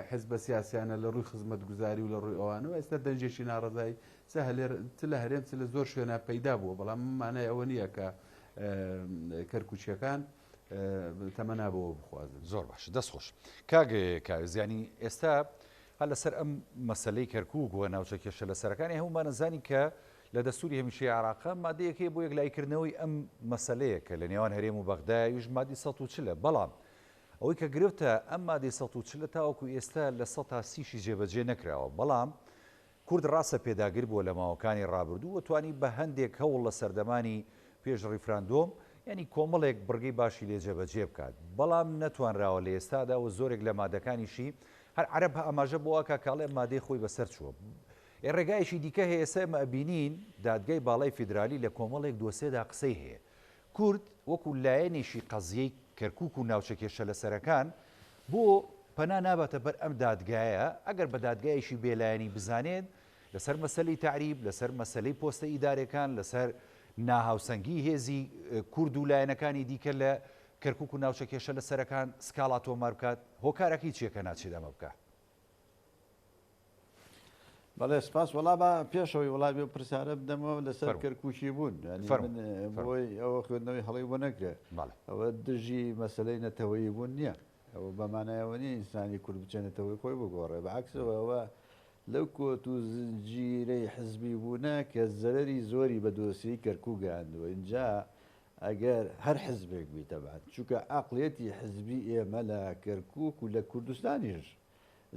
حزبە سیاسیانە لە ڕووی خزمەت گوزاری و لە ڕووی ئەوانەوە ئێستا دەنجێکی ناڕزایی چ هەلێر چ لە هەرێم چ لە زۆر شوێنە پەیدا بووە بەڵام مانای ئەوە نییە کە کەرکوچیەکان تەمەنا بەوە بخوازن زۆر باش دەست خۆش کاگ کاوێزیانی ئێستا هە لەسەر ئەم مەسلەی کەرکک و ناوچە کێشە لەسەرەکانی هەمومانەزانی کە لە دەستوری هەمیشەی عێراقە مادەیەک هەیە بۆ یەکلاییکردنەوەی ئەم مەسەلەیە کە لە نێوان هەرێم و بەغدایە ئەویش مادەی سەد و چل ە بەڵام ئەوەی کە گرفتە ئەم مادەی سەد و چل ە تاوەکو ئێستا لە سەد تا سی شی جێبەجێ نەکراوە بەڵام کورد ڕاستە پێداگر بووە لە ماوەکانی ڕابردوو و توانی بە هەندێک هەوڵ لە سەردەمانی پێش ڕیفراندۆم یانی کۆمەڵێک بڕگەی باشی لێ جێبەجێ بکات بەڵام نەتوانراوە لە ئێستادا و زۆرێک لە مادەکانیشی هەر عەرەب ئاماژە بۆ ئەکا کە ئەڵێ مادەی خۆی بەسەر چووە ئێ ڕێگایەکی دیکە هەیە سەر مە بینین دادگای باڵای فیدرالی لە کۆمەڵێک دۆسێدا قسەی هەیە کورد وەکو لایەنێکی قەزیەی کەرکوک و ناوچە کێشە لەسەرەکان بۆ پەنا ناباتە بەر ئەم دادگایە ئەگەر بە دادگایەکی بێلایەنی بزانێت لەسەر مەسەلەی تەعریب لەسەر مەسەلەی پۆستە ئیدارەکان لەسەر ناهاوسەنگی هێزی کورد و لایەنەکانی دیکە لە کەرکک و ناوچە کێشە لە سەرەکان سکاڵا تۆمار بکات هۆکارەکەی چیەکە ناچێت ئەمە بکە بەڵێ سپاس وڵا بە پێشەوەی وڵامی و پرسیارە بدەمەوە لەسەر کەرکوچی بوون بۆی ئەوە خوێندنەوەی هەڵی بۆ نەکرێ ئەوە دژی مەسلەی نەتەوەی بوون نییە ئەوە بەمانایەوە نیە ئینسانی کورد بچێنێتەوەی خۆی بگۆڕێ بەعکسەوە ئەوە لەو کۆت و زنجیرەی حزبی بوونە کە زەرری زۆری بە دۆسی کەرکوو گەاندوە اینجا ئەگەر هەر حزبێک بی تەبعەن چونکە عەقڵیەتی حزبی ئێمە لە کەرکوک و لە کوردستانیش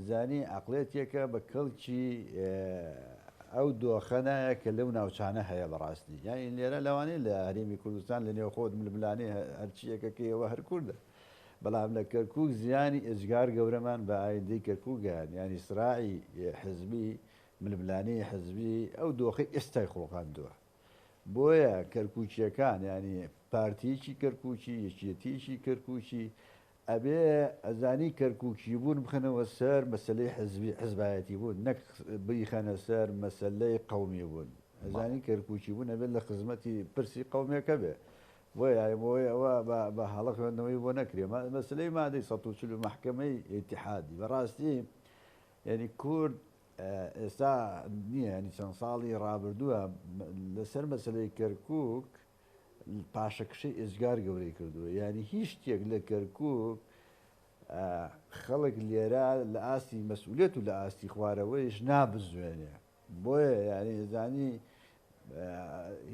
زانی عەقڵیەتێکە بە کەڵکی ئەو دۆخە نایە کە لەو ناوچانە هەیە بە ڕاستی یانی لێرە لەوانەیە لە هەرێمی کوردستان لە نێوخۆت ململانێ هەرچیەکە کە ئێوە هەر کوردە بەڵام لە کەرکوک زیانی ئێجگار گەورەمان بە ئایندەی کەرکوگەیان ینی سراعی حزبی ململانەی حزبی ئەو دۆخی ئێستای خۆڵقاندووە بۆیە کەرکوکیەکان یانی پارتیەکی کەرکوکی یەکێتیەکی کەرکوکی ئەبێ ئەزانی کەرکوکی بوون بخەنەوە سەر مەسلەی حزبی حزبایەتی بوون نەک بریخەنە سەر مەسلەی قومی بوون ئەزانی کەرکوکی بوون ئەبێت لە خزمەتی پرسی قومێکە بێ بۆ یاەوەی ئەوە بە هەڵە خوێندنەوەی بۆ نەکرێ مەسلەی مادەی ١ و محکمەی ئتحادی بەڕاستی یعنی کورد ئێستا نییە یانی چەند ساڵی ڕابردووە لەسەر مەسلەی کەرکک پاشەکشەی ئێجگار گەورەی کردووە یانی هیچ شتێک لە کەرکک خەڵک لێرە لە ئاستی مەسئولێت و لە ئاستی خوارەوەیش نابزوێنێ بۆیە یانی زانی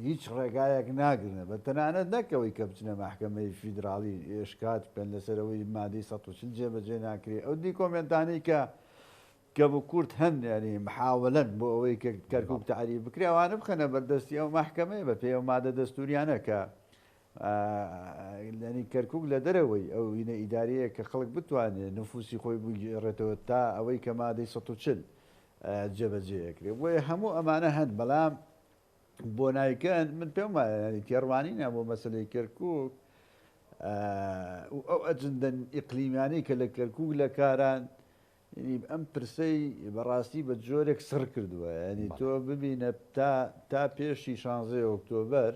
هیچ ڕێگایەک ناگرنە بە تەنانەت نەکەوەی کە بچنە مححکەمەی فیدراڵی ئێشکات بکەن لەسەرەوەی مادەی ١ جێبەجێ ناکرێ ئەو دیکۆمنتانی کە کە بە کورت هەن یانی محاولەن بۆ ئەوەی کە کەرکوک تەعریب بکرێ ئەوانە بخەنە بەردەستی ئەو مەحکەمەیە بە پێی ئەو مادە دەستوریانە کە لەنی کەرکک لە دەرەوەی ئەو وینە ئیداریەیە کە خەڵک بتوانێت نفوسی خۆی بگێڕێتەوە تا ئەوەی کە مادەی 1940 جێبەجێکرێ بۆیە هەموو ئەمانە هەن بەڵام بۆ نایکەن من پێم وایە تێڕوانینە بۆ مەسلەی کەرکک ئەو ئەجندەن ئیقلیمیانی کە لە کەرکک لە کاران یعنی ئەم پرسەی بەڕاستی بە جۆرێک سڕ کردووە یعنی تۆ ببینە تا تا پێشی شانزەی ئۆکتۆبەر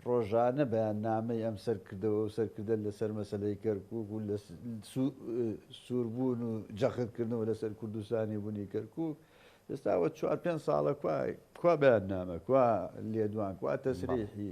ڕۆژانە بەیاننامەی ئەم سەرکردەوە و سەرکردە لەسەر مەسەلەی کەرکوک و لە سووربوون و جەختکردنەوە لەسەر کوردستانی بوونی کەرکوک ئێستاوە چوار پێنج ساڵە کوا کوا بەیاننامە کوا لێدوان کوا تەسریحی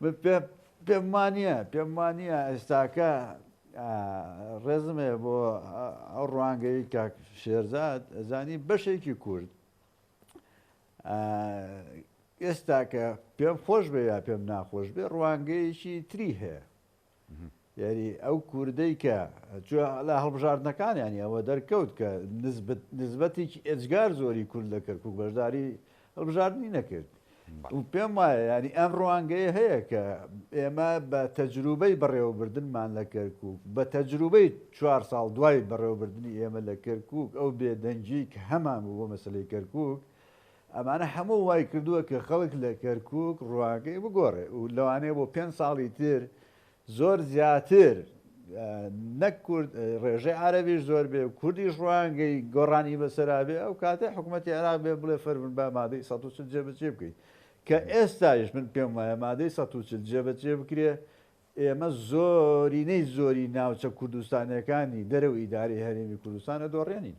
من پێ پێم وانییە پێم وانییە ئێستاکە ڕێزمێ بۆ ئەو ڕوانگەی کاک شێرزاد ئەزانی بەشێکی کورد ئێستاکە پێم خۆش بێ یا پێم ناخۆش بێ ڕوانگەیەکی تری هەیە یاری ئەو کوردەی کە چوە لە هەڵبژاردنەکانیانی ئەوە دەرکەوت کە نزبەتێکی ئێجگار زۆری کورد لە کەرکک بەشداری هەڵبژاردننی نەکرد پێم وایە ینی ئەم ڕوانگەیە هەیە کە ئێمە بە تەجروبەی بەڕێوەبردنمان لە کەرکک بە تەجروبەی چوار ساڵ دوای بەڕێوەبردننی ئێمە لە کەرکک ئەو بێدەنگی کە هەمان بوو بۆ مەسلەی کەرکک ئەمانە هەموو وای کردووە کە خەڵک لە کەرکووک ڕوانگەی بگۆڕێ و لەوانەیە بۆ پێنج ساڵی تر زۆر زیاتر نەک کورد ڕێژەی عربیش زۆر بێ کوردیش ڕوانگەی گۆڕانی بەسەرابێ ئەو کاتێ حکوومەتتی عێراق بێ بڵێ فەرمن بە مادەی 1940 جێبەجێ بکەیت کە ئێستایش من پێم وایە مادەی 1940 جێبەجێ بکرێ ئێمە زۆرینەی زۆری ناوچە کوردستانەکانی دەرەوە ئیداری هەرێمی کوردستانە دۆڕێنین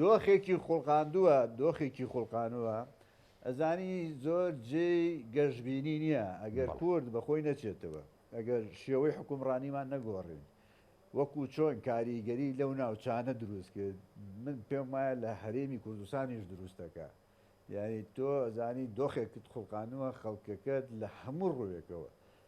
دۆخێکی خوڵقاندووە دۆخێکی خوڵقانووە ئەزانی زۆر جێی گەشببینی نییە ئەگەر کورد بەخۆی نەچێتەوە ئەگەر شێوەی حکومڕانیمان نەگۆڕین وەکو چۆن کاریگەری لەو ناوچانە دروست کرد من پێم وایە لە هەرێمی کوردستانیش دروستەکە یعنی تۆ زانی دۆخێکت خوڵقانووە خەڵکەکەت لە هەموو ڕووێکەوە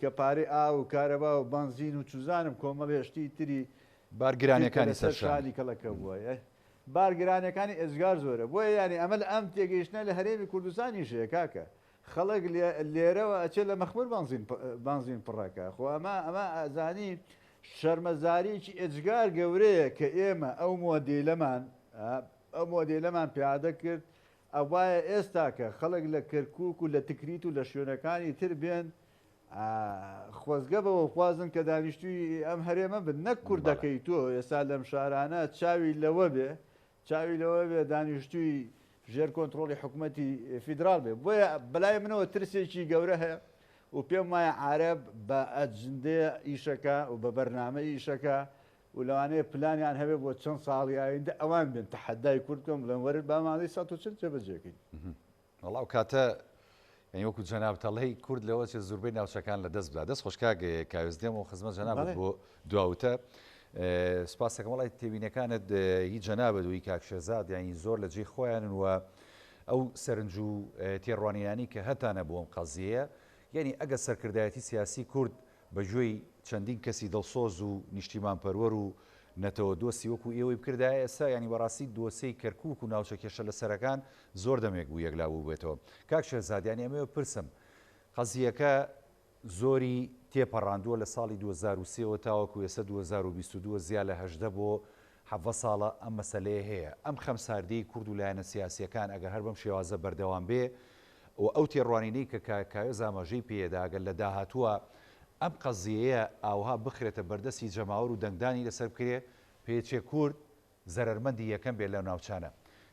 کە پارەی ئاو و کارەبا و بەنزین و چوزانم کۆمەڵێ شتی تری بارگرانەکانی گرتە لەسەر سەرشانی. شانی کەڵەکە بووە یە بارگرانەکانی ئێجگار زۆرە بۆیە یانی ئەمە لە ئەم تێگەیشتنە لە هەرێمی کوردستانیش هەیە کاکە خەڵک لێ لێرەوە ئەچێ لە مەخمور بەنزین پ بەنزین پڕەکە خۆ ئەمە ئەمە ئەزانی شەرمەزاریی ئێجگار گەورەیە کە ئێمە ئەو مۆدیلەمان ئا ئەو مۆدیلەمان پیادە کرد ئەوایە ئێستاکە خەڵک لە کەرکوک و لە تکریت و لە شوێنەکانی تر بێن خۆزگە بەوەخوازن کە دانیشتوی ئەم هەرێمە بن نەک کوردەکەی تۆ ئێستا لەم شارانە چاوی لەوە بێ چاوی لەوە بێ دانیشتوی ژێر کۆنتترۆڵی حکوومەتتی فیدرال بێ بۆیە بەلای منەوە ترسێکی گەورە هەیە و پێم وایە عرب بە ئەجندێ ئیشەکە و بە بەرنامە ئیشەکە و لەوانەیە پلانیان هەبێت بۆ چەند ساڵی ئایندە ئەوان بێن تەحەدای کورد بکەن بڵێن وەرن با مادەی سەد و چل جێبەجێ کەین. وەڵا ئەو کاتە یانی وەکو جەنابت ئەڵێی کورد لەوە چێت زوربەی ناوچەکان لە دەست بدا. دەست خۆش کاک کاوێس دێمەوە خزمەت جەنابت بۆ دوا وتە. سوپاست دەکەم وەڵا تێبینەکانت هی جەنابت و هی کاک شێرزاد یانی زۆر لە جێی خۆیانن و ئەو سەرنج و تێڕوانینانەی کە هەتانە بۆ ئەم قەزیەیە یانی ئەگەر سەرکردایەتی سیاسی کورد بە گوێی چەندین کەسی دڵسۆز و نیشتیمانپەروەر و نەتەوە دۆستی وەکو ئێوەی بکردایە ئێستا یانی بەڕاستی دۆسێی کەرکوک و ناوچە کێشە لەسەرەکان زۆر دەمێک بوو یەکلا بووبێتەوە کاک شێرزاد یانی ئەمەوێ بپرسم قەزیەکە زۆری تێپەڕاندووە لە ساڵی دوو هەزار و سێ وە تاوەکو ئێستا دوو هەزار و بیست و دوو زیا لە هەژدە بۆ حەڤە ساڵە ئەم مەسەلەیە هەیە ئەم خەمساردیەی کورد و لایەنە سیاسیەکان ئەگەر هەر بەم شێوازە بەردەوام بێ و ئەو تێڕوانینەی کە کاک کاوێس ئاماژەی پێیەدا گەر لە داهاتووا ئەم قەزیەیە ئاوها بخرێتە بەردەستی جەماوەر و دەنگدانی لەسەر بکرێ پێچێ کورد زەرەرمەندی یەکەم بێ لەو ناوچانە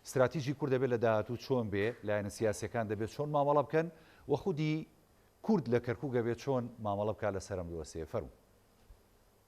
ستراتیجی کورد دەبێ لە داهاتوو چۆن بێ لایەنە سیاسیەکان دەبێ چۆن مامەڵە بکەن و خودی کورد لە کەرکوک ئەبێ چۆن مامەڵە بکا لەسەر ئەم دۆسێیە فەرموو.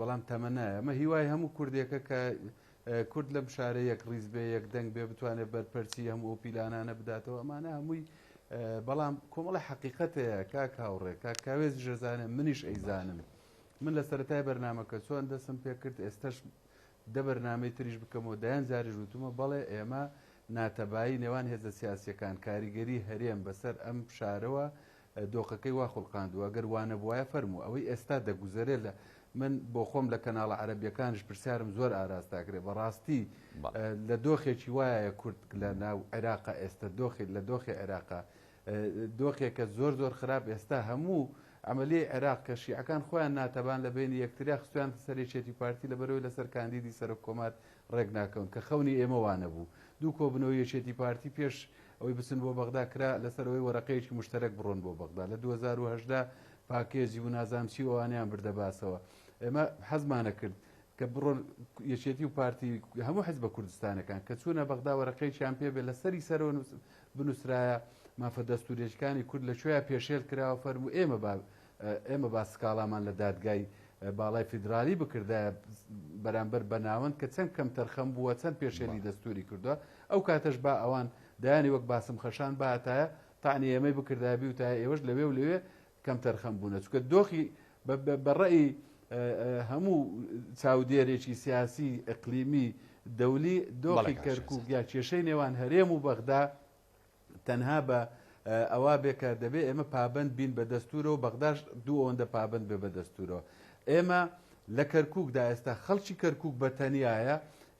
بەڵام تەمەنایە. ئەمە هیوای هەموو کوردێکە کە کورد لەم شارە یەکڕیز بێ، یەکدەنگ بێ، بتوانێت بەرپەرچی هەموو ئەو پیلانانە بداتەوە. ئەمانە هەمووی بەڵام کۆمەڵە حەقیقەت هەیە کاک هاوڕێ، کاک کاوێزیش ئەزانێ، منیش ئەیزانم. من لە سەرەتای بەرنامەکە چۆن دەستم پێ کرد، ئێستەش دە بەرنامەی تریش بکەمەوە، دەیان جاریش وتوومە، بەڵێ ئێمە ناتەبایی نێوان هێزە سیاسییەکان، کاریگەری هەرێم بەسەر ئەم شارەوە دۆخەکەی وا خولقاندووە، گەر وانەبوایە فەرموو ئەوەی ئێستا دەگوزەرێ لە من بۆخۆم لە کەناڵە عەرەبیەکانیش پرسیارم زۆر ئاراستاکرێ بەڕاستی لە دۆخێکی وایە کورد لە ناو عێراقە ئێستا دۆخی لە دۆخی عێراقە دۆخێکە زۆر زۆر خراپ ئێستا هەموو عملیەی عێراق کە شیعەکان خۆیان ناتەبان لە بینی یەکتریا خستویانتە سەر یەکێتی پارتی لە بەرەوەی لەسەر کاندیدی سەرۆک کۆمار ڕێک ناکەون، کە خەونی ئێمە وا نەبوو. دوو کۆبوونەوەی یەکێتی پارتی پێش ئەوەی بچن بۆ بەغدا کرا لەسەر ئەوەی وەرەقەیەکی مشتەرەک بڕۆن بۆ بەغدا. لە دوو هەزار و هەژدە پاکێجی و نازانم چی و ئەوانەیان بردە باسەوە. ئێمە حەزمانەکرد کە بڕۆن یەکێتی و پارتی هەموو حزبە کوردستانەکان کە چوونە بەغدا وەرەقەیەکیان پێ بێ لەسەری سەرەوە بنووسرایە مافە دەستوورێکانی کورد لە کوێیا پێشێل کراوە فەرموو ئێمە با ئێمە با سکاڵامان لە دادگای باڵای فیدراڵی بکردایە بەرامبەر بە ناوەند کە چەند کەمتەرخەم بووە چەند پێشێلی دەستوری کردووە ئەو کاتەش با ئەوان دایانی وەک باسم خەشان باتایە تاانی ئێمەی بکردای بیوتای ئێوەش لەوێ و لەوێ کەمتەرخەم بوونە چکە دۆخی بەڕێی هەموو چاودێرێکی سیاسی ئەقلیمی دەولی دۆخی کەرکک یا کێشەی نێوان هەرێم و بەغدا تەنها بە ئەوا بێ کە دەبێ ئێمە پابەند بین بە دەستورەوە بەغداش دوو ئەوەندە پابەند بێ بە دەستورەوە ئێمە لە کەرکووکدا ئێستا خەڵکی کەرکووک بە تەنایە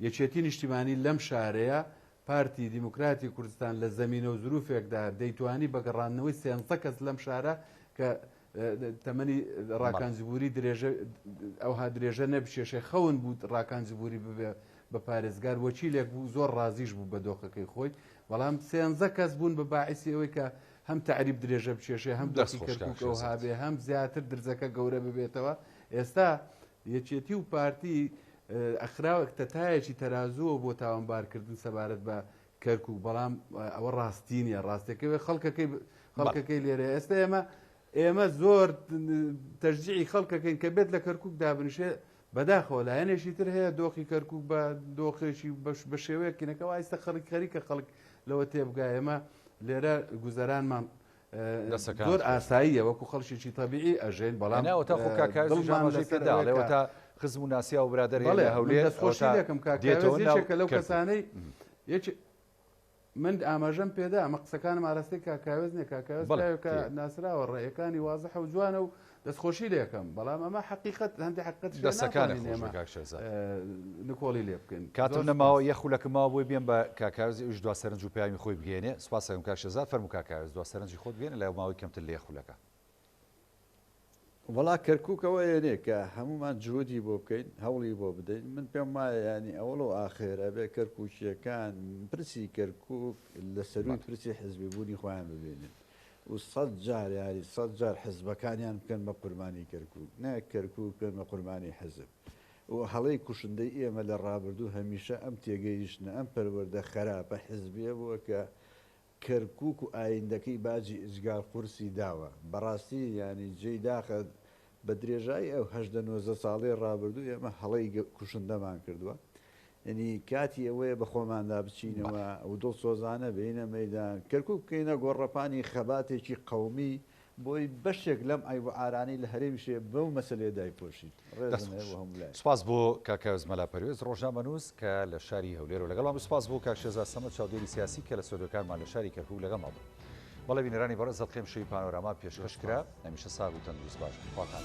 یەکێتی نیشتیمانی لەم شارەیە پارتی دیموکراتی کوردستان لە زەمینە و زروفێکدا دەیتوانی بە گەڕاندنەوەی سێنزە کەس لەم شارە کە تەمەنی ڕاکان جبووری درێژە ئەوها درێژە نەبچێشێ خەون بوو ڕاکان جبووری ببێ بە پارێزگار وەکیلێک بوو زۆر ڕازیش بوو بە دۆخەکەی خۆی بەڵام سێنزە کەس بوون بە باعسی ئەوەی کە هەم تعریب درێژە بچێشێ هەم دەستی کەرککەەوە هاابێ هەم زیاتر درزەکە گەورە ببێتەوە ئێستا یەکێتی و پارتی ئەخراوەک تەتایەکی تەرازووە بۆ تاوانبارکردن سەبارەت بە کەرکوک بەڵام ئەوە ڕاستی نیە ڕاستەکەوێ خەڵکەکەی خەڵکەکەی لێرە ئێستا ئێمە ئێمە زۆر تەرجیعی خەڵکەکەین کە بێت لە کەرکک دابنشێ بەداخەوە لایەنێکی تر هەیە دۆخی کەرکک بە دۆخێکی بەش بە شێوەیەکینەکەەوە ئایستە خەڵک خەریکە خەڵک لەوە تێبگایەمە لێرە گوزەرانمان زۆر ئاساییە وەکو خەڵکیی تەبیعی ئەژین بەڵام تا خزم و ناسیا و برادر هەڵێ هەولێ خۆشیەکەم کاکەێکە لەو کەسانەی یەکی من ئاماژەم پێدا ئەمە قسەکانم ئاراستەی کاکاوێز نیە کاکەکە ناسراوە ڕێەکانی وازە حەوجوانە و دەست خۆشی لێکەم بەڵام ئەمە حەقیقەت هەندی حەقت دەسەکانت ئێمە نکۆڵی لێ بکەین کاتم نەماوە یە خولەکە ماوە بۆی بێن بە کاکارز ئوش دو سەرنج و پامی خۆی بگەێنێ سوپاسەکەم کاکشێزا فەرمو کاکارز دو سەرنجی خۆت بگەێنە لای ماوەی کەمتر لێ خولەکە وڵا کەرککەوە یەنێ کە هەمومان جوودی بۆ بکەین هەوڵی بۆ بدەین من پێم وایە ینی ئەوڵ و ئاخێر ئەبێ کەرکوچیەکان پرسی کەرکک لە سەروی پرسی حزبی بوونی خۆیان ببێنن و سەد جار یاری سەد جار حزبەکانیان بکەن بە قوربانی کەرکوک نەک کەرکوک بکەن بە قوربانی حزب و هەڵەی کوشندەی ئێمە لە ڕابردوو هەمیشە ئەم تێگەیشتنە ئەم پەروەردە خەراپە حزبیە بووە کە کەرکوک و ئایندەکەی باجی ئیجگار قورسی داوە بەڕاستی یانی جێی داخە بە درێژایی ئەو هەژدە نۆزدە ساڵەی ڕابردوو ئێمە هەڵەی کوشندەمان کردووە، یەنی کاتی ئەوەیە بە خۆماندا بچینەوە و دڵسۆزانە بێینە مەیدان، کەرکووک بکەینە گۆڕەپانی خەباتێکی قەومی بۆی بەشێک لەم عەیب و عارانەی لە هەرێمیش هەیە بەو مەسەلەیە دایپۆشین. ڕێزم هەیە بۆ هەموو لایەک. سپاس بۆ کاک ئایۆز مەلا پەروێز ڕۆژنامەنووس کە لە شاری هەولێرەوە لەگەڵمان بوو، سپاس بۆ کاک شێزا سەمەد چاودێری سیاسی کە لە ستۆدیۆکانمان لە شاری کەرکووک لەگەڵمان بوو. بەڵێ بینەرانی بەڕێز دەتقێم شەوی پانۆراما پێشکەش کرا. هەمیشە ساغ و تەندروست باش بن خواکان.